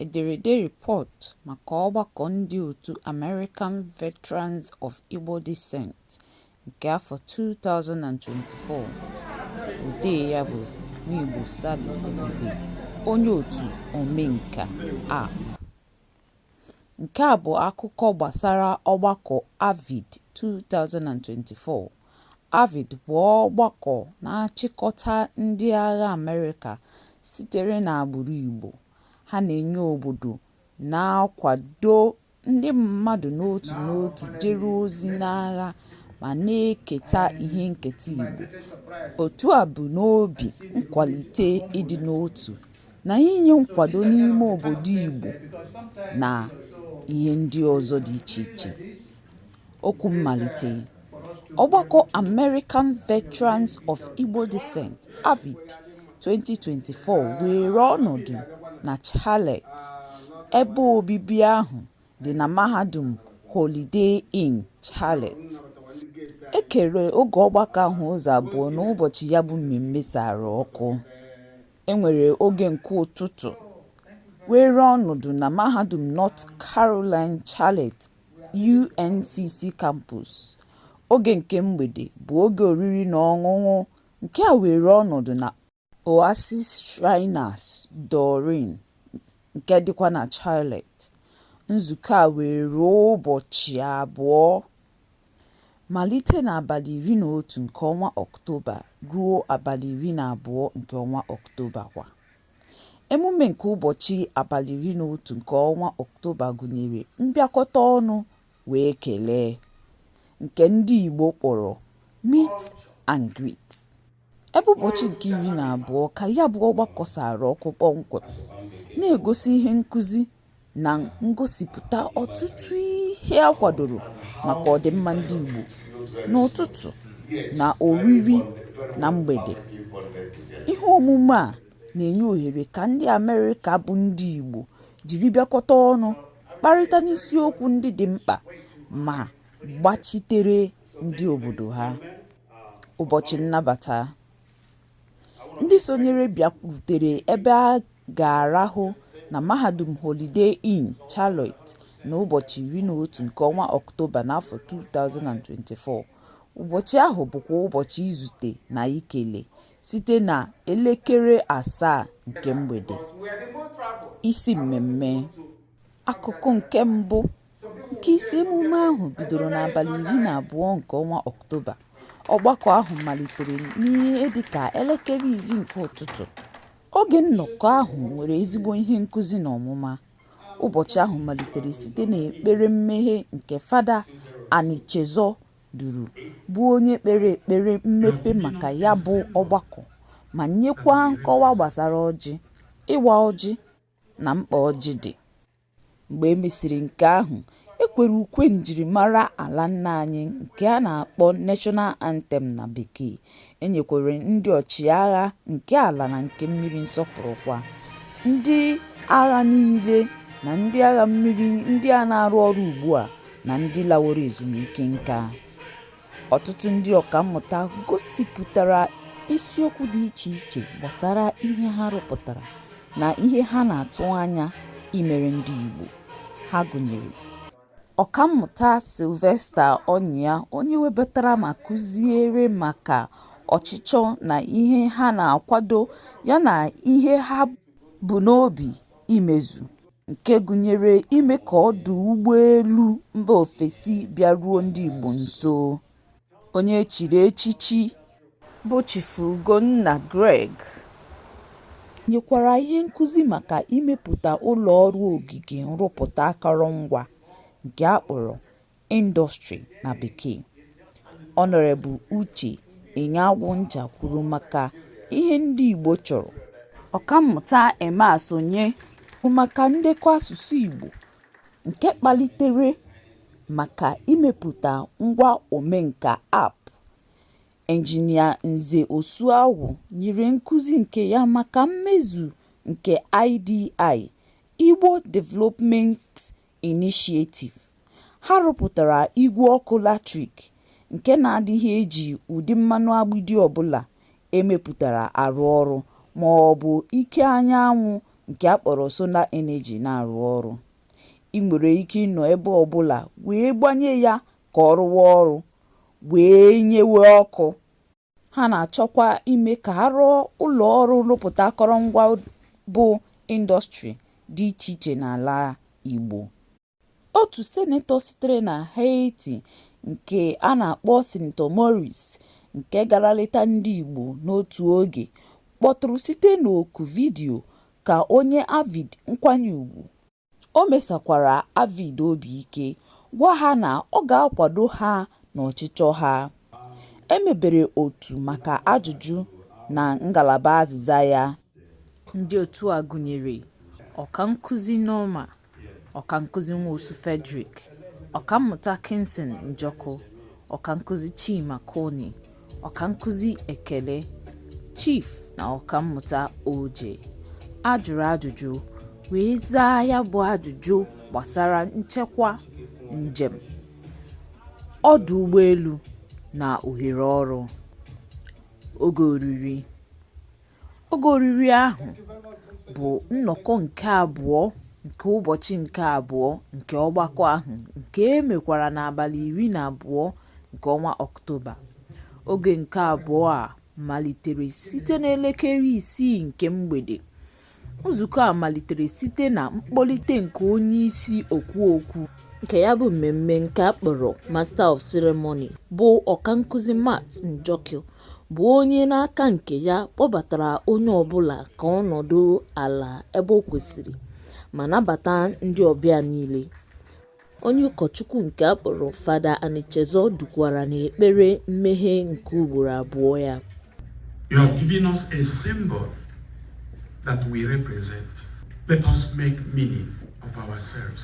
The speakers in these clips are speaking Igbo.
Ederede report maka ọgbakọ ndị otu American Veterans of Igbo Descent nke afọ 2024, odee ya bụ Nwigbo Sally Ebube, onye otu Omenka App. Nke a bụ akụkọ gbasara ọgbakọ AVID 2024. AVID bụ ọgbakọ na-achịkọta ndị agha Amerịka sitere n'agbụrụ Igbo. Ha na-enye obodo na-akwado ndị mmadụ n'otu n'otu jere ozi n'agha ma na-eketa ihe nketa Igbo. Otu a bu n'obi ịkwalite ịdị n'otu na inye nkwado n'ime obodo Igbo na ihe ndị ọzọ dị iche iche. Okwu mmalite ọgbakọ American Veterans of Igbo Descent, AVID, 2024 weere ọnọdụ na Charlotte, ebe obibi ahụ dị na mahadum Holiday Inn, Charlotte. E kere oge ọgbakọ ahụ ụzọ abụọ n'ụbọchị ya bụ mmemme sara ọkụ. E nwere oge nke ụtụtụ weere ọnọdụ na Mahadum North Carolina Charlotte, UNCC Campus. Oge nke mgbede bụ oge oriri na ọṅụṅụ nke a weere ọnọdụ na Oasis Shriners Doreen nke dịkwa na Charlotte. Nzukọ a weere ụbọchị abụọ. Malite n'abalị iri na otu nke ọnwa Ọktoba ruo abalị iri na abụọ nke ọnwa Ọktoba kwa. Emume nke ụbọchị abalị iri na otu nke ọnwa Ọktoba gụnyere mbịakọta ọnụ wee kelee, nke ndị Igbo kpọrọ meet and greet. Ebe ụbọchị nke iri na abụọ ka ya bụ ọgbakọ sara ọkụ kpọmkwem, na-egosi ihe nkụzi na ngosipụta ọtụtụ ihe a kwadoro maka ọdịmma ndị Igbo n'ụtụtụ na oriri na mgbede. Ihe omume a na-enye ohere ka ndị Amerịka bụ ndị Igbo jiri bịakọta ọnụ kparịta n'isiokwu ndị dị mkpa ma gbachitere ndị obodo ha. ụbọchị nnabata. Ndị sonyere bịakwutere ebe a ga-arahụ na Mahadum Holiday Inn Charlotte n'ụbọchị 11 nke ọnwa Ọktoba n'afọ 2024. Ụbọchị ahụ bụkwa ụbọchị izute na ikele site na elekere asaa nke mgbede. Isi Mmemme. Akụkụ nke Mbụ. Nke isi emume ahụ bidoro n'abalị iri na abụọ nke ọnwa Ọktoba, ọgbakọ ahụ malitere n'ihe dịka elekere iri nke ụtụtụ. Oge nnọkọ ahụ nwere ezigbo ihe nkuzi na ọmụma. Ụbọchị ahụ malitere site n'ekpere mmeghe nke Fada Anichezọ duru, bụ onye kpere ekpere mmepe maka ya bụ ọgbakọ ma nyekwa nkọwa gbasara ọjị, ịwa ọjị na mkpa ọjị dị. Mgbe e mesịrị nke ahụ, e kwere ukwe njirimara ala nna anyị nke a na-akpọ National Anthem na Bekee, e nyekwara ndị ọchịagha nke ala na nke mmiri nsọpụrụ kwa, ndị agha niile na ndị agha mmiri ndị a na-arụ ọrụ ugbu a na ndị laworo ezumike nka. Ọtụtụ ndị ọkammụta gosipụtara isiokwu dị iche iche gbasara ihe ha rụpụtara na ihe ha na-atụ anya imere ndị Igbo. Ha gụnyere Ọkammụta Sylvester Onyia onye webatara ma kụziere maka ọchịchọ na ihe ha na-akwado yana ihe ha bu n'obi imezu. nke gụnyere ime ka ọdụ ụgbọelu mba ofesi bịaruo ndị Igbo nso. Onye e chiri echichi bụ Chief Ugonna Greg nyekwara ihe nkụzi maka imepụta ụlọọrụ ogige nrụpụta akọrọngwa nke a kpọrọ Industry na Bekee. Honorable Uche Onyeagucha kwuru maka ihe ndị Igbo chọrọ. Ọkammụta Emma Asonye kwuru maka ndekọ asụsụ Igbo nke kpalitere maka imepụta ngwa Omenka App. Engineer Nze Osuagwu nyere nkuzi nke ya maka mmezu nke IDI, Igbo Development Initiative, ha rụpụtara igwe ọkụ latrik nke na-adịghị eji ụdị mmanụ agbidi ọ bụla e mepụtara arụ ọrụ ma ọ bụ ike anyanwụ nke a kpọrọ solar energy na-arụ ọrụ. I nwere ike ịnọ ebe ọ bụla wee gbanye ya ka ọ rụwa ọrụ wee nyewe ọkụ. Ha na-achọkwa ime ka a rụọ ụlọọrụ nrụpụta akọrọngwa bụ ịndọstrị dị iche iche n'ala Igbo. Otu Sinetọ sitere na Haiti nke a na-akpọ Sinetọ Maurice nke gara leta ndị Igbo n'otu oge kpọtụrụ site n'oku vidiyo ka o nye AVID nkwanye ugwu. O mesakwara AVID obi ike, gwa ha na ọ ga-akwado ha n'ọchịchọ ha. E mebere otu maka ajụjụ na ngalaba azịza ya. Ndị otu a gụnyere Ọkankụzi Norma, Ọkankụzi Nwosu Fredrick, Ọkammụta Kinson Njoku, Ọkankụzi Chima Koni, Ọkankụzi Ekele, Chief na Ọkammụta Oje. A jụrụ ajụjụ wee zaa ya bụ ajụjụ gbasara nchekwa, njem, ọdụ ụgbọelu na ohere ọrụ. Oge oriri. Oge oriri ahụ bụ nnọkọ nke abụọ nke ụbọchị nke abụọ nke ọgbakọ ahụ nke e mekwara n'abalị 12 nke ọnwa Ọktoba. Oge nke abụọ a malitere site n'elekere isii nke mgbede. Nzukọ a malitere site na mkpọlite nke onye isi okwu okwu nke ya bụ mmemme nke a kpọrọ Master of Ceremony, bụ ọkankụzi Matt Njoku bụ onye n'aka nke ya kpọbatara onye ọbụla ka ọ nọdụ ala ebe o kwesịrị ma nabata ndị ọbịa niile. Onye ụkọchukwu nke a kpọrọ Fada Anichezọ dukwara n'ekpere mmeghe nke ugboro abụọ ya. You have given us a symbol that we represent. Let us make meaning of ourselves.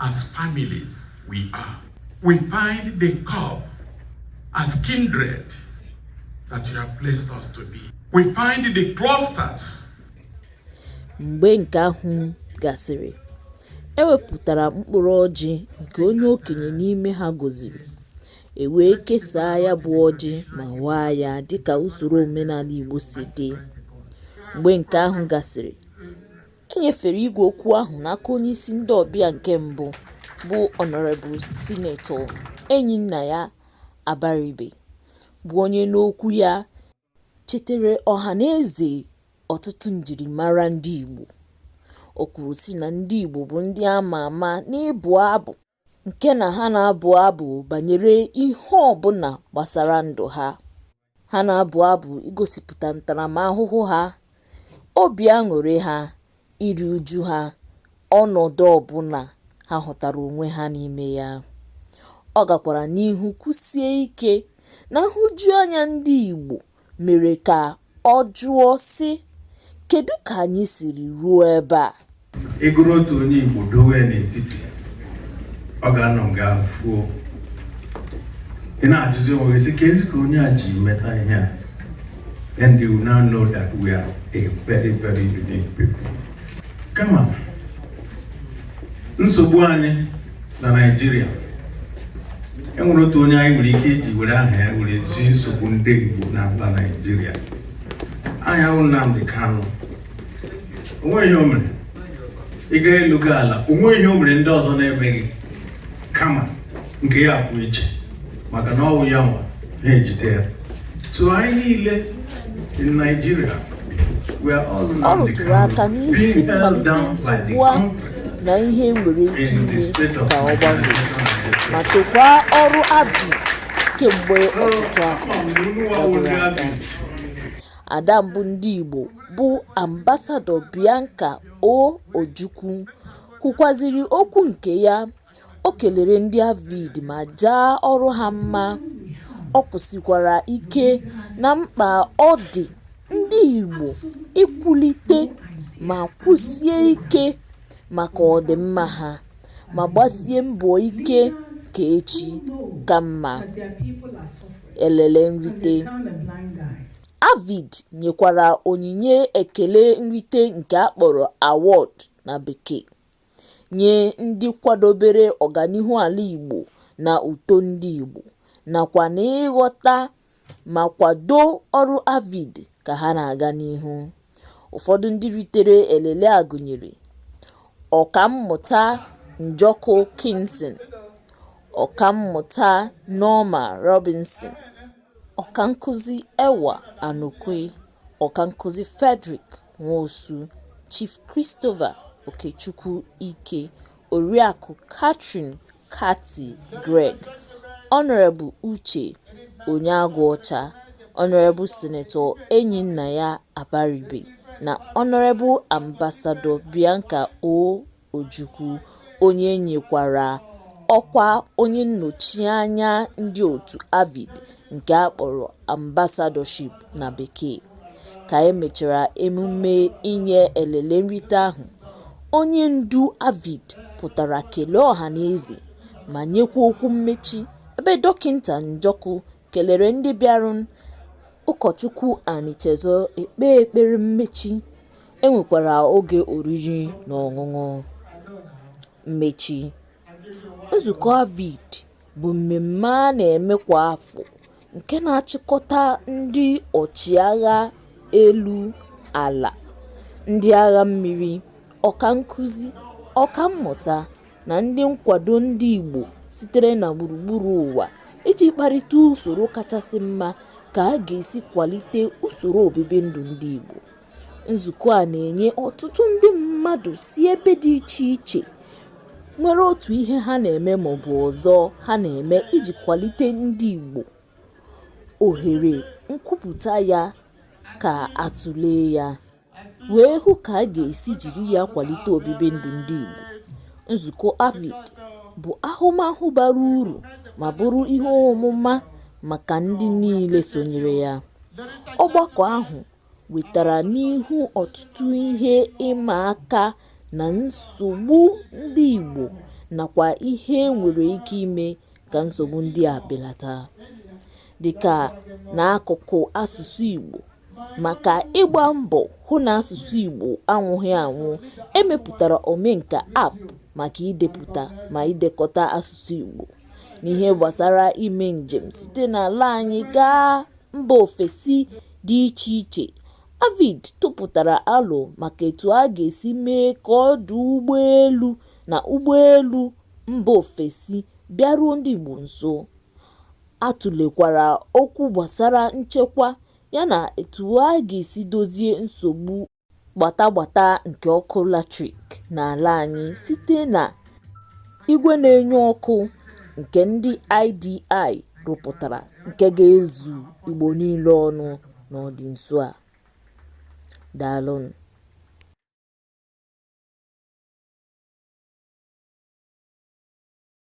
As families we are, we find the cup as kindred that you have placed us to be. We find the clusters. Mgbe nke ahụ gasịrị, e wepụtara mkpụrụ ọjị nke onye okenye n'ime ha gọziri e wee kesaa ya bụ ọjị ma waa ya dịka usoro omenala Igbo si dị. Mgbe nke ahụ gasịrị, E nyefere igwe okwu ahụ n'aka onyeisi ndị ọbịa nke mbụ bụ Honorable Sinetọ Enyinnaya Abaribe bụ onye n'okwu ya chetere ọhanaeze ọtụtụ njirimara ndị Igbo. O kwuru sị na ndị Igbo bụ ndị a ma ama n'ịbụ abụ. nke na ha na-abụ abụ banyere ihe ọ bụla gbasara ndụ ha. Ha na-abụ abụ igosipụta ntaramahụhụ ha, obi aṅụrị ha, iri uju ha, ọnọdụ ọ bụla ha hụtara onwe ha n'ime ya. Ọ gakwara n'ihu kwusie ike na nhụjuanya ndị Igbo mere ka ọ jụọ sị, Kedụ ka anyị siri ruo ebe a? Ị gụrụ otu onye Igbo dowe n'etiti, ọ ga-anọ nga ahụ fuo. Ị na-ajụzi onwe gị sị, keezi ka onye a ji meta ihe a? And you now know that we are a very, very unique people. Kama nsogbu anyị na Naịjirịa e nwere otu onye anyị nwere ike iji were aha ya were zi nsogbu ndị Igbo na mba Naịjirịa aha ya wụ Nnamdi Kanu o nweghị ihe o mere ị gaa elu gaa ala o nweghị ihe o mere ndị ọzọ na-emeghị kama nke ya kwụ iche maka na ọ wụ ya nwa ha ejide ya so anyị niile in Nigeria ọ rụtụrụ aka n'isi mmalite nsogbu a na ihe nwere ike ime ka ọ gbanwee ma tokwa ọrụ AVID kemgbe ọtụtụ afọ gaburu aga. Ada mbụ ndị Igbo bụ Ambasadọ Bianca O Ojukwu kwukwaziri okwu nke ya O kelere ndị AVID ma jaa ọrụ ha mma, o kwusikwara ike na mkpa ọ dị ndị Igbo ikwulite ma kwụsie ike maka ọdịmma ha, ma gbasie mbọ ike ka echi ka mma. Elele nrite AVID nyekwara onyinye ekele nrite nke a kpọrọ award na bekee. nye ndị kwadobere ọganihu ala Igbo na uto ndị Igbo, nakwa n'ịghọta ma kwado ọrụ AVID ka ha na-aga n'ihu. Ụfọdụ ndị ritere elele a gụnyere, Ọkammụta Njoku Kingston, Ọkammụta Norma Robinson, Ọkankụzi Ewa Anokwe. Ọkankụzi Frederick Nwosu, Chief Christopher Okechukwu Ike, Oriakụ Catherine Cathy Greg, Honorable Uche Onyeagụọcha, Honorable Senator Enyinnaya Abaribe na Honorable Ambassador Bianca O. Ojukwu, onye e nyekwara ọkwa onye nnọchianya ndị otu AVID nke a kpọrọ Ambassadorship na Bekee. Ka e mechara emume inye elele nrite ahụ, onye ndu AVID pụtara kelee ọhanaeze ma nyekwa okwu mmechi ebe Dọkịnta Njoku kelere ndị bịara. Ụkọchukwu Anichezo ekpe ekpere mmechi, e nwekwara oge oriri na ọṅụṅụ mmechi. Nzukọ AVID bụ mmemme a na-eme kwa afọ nke na-achịkọta ndị ọchịagha elu, ala, ndị agha mmiri, ọkankụzi, ọkammụta, na ndị nkwado ndị Igbo sitere na gburugburu ụwa iji kparịta usoro kachasị mma ka a ga-esi kwalite usoro obibi ndụ ndị Igbo. Nzukọ a na-enye ọtụtụ ndị mmadụ si ebe dị iche iche nwere otu ihe ha na-eme maọbụ ọzọ ha na-eme iji kwalite ndị Igbo ohere nkwupụta ya ka a tụlee ya. wee hụ ka a ga-esi jiri ya kwalite obibi ndụ ndị Igbo. Nzukọ AVID bụ ahụmahụ bara uru ma bụrụ ihe ọmụma maka ndị niile sonyere ya. Ọgbakọ ahụ wetara n'ihu ọtụtụ ihe ịma aka na nsogbu ndị Igbo nakwa ihe e nwere ike ime ka nsogbu ndị a belata, dịka n'akụkụ asụsụ Igbo. Maka ịgba mbọ hụ na asụsụ Igbo anwụghị anwụ, e mepụtara Omenka App maka idepụta ma idekọta asụsụ Igbo. N'ihe gbasara ime njem site n'ala anyị gaa mba ofesi dị iche iche, AVID tụpụtara alo maka etu a ga-esi mee ka ọdụ ụgbọelu na ụgbọelu mba ofesi bịaruo ndị Igbo nso. A tụlekwara okwu gbasara nchekwa yana etu a ga-esi dozie nsogbu gbata gbata nke ọkụ latrik n'ala anyị site na igwe na-enye ọkụ nke ndị IDI rụpụtara nke ga-ezu Igbo niile ọnụ n'ọdị nso a. Daalụnụ.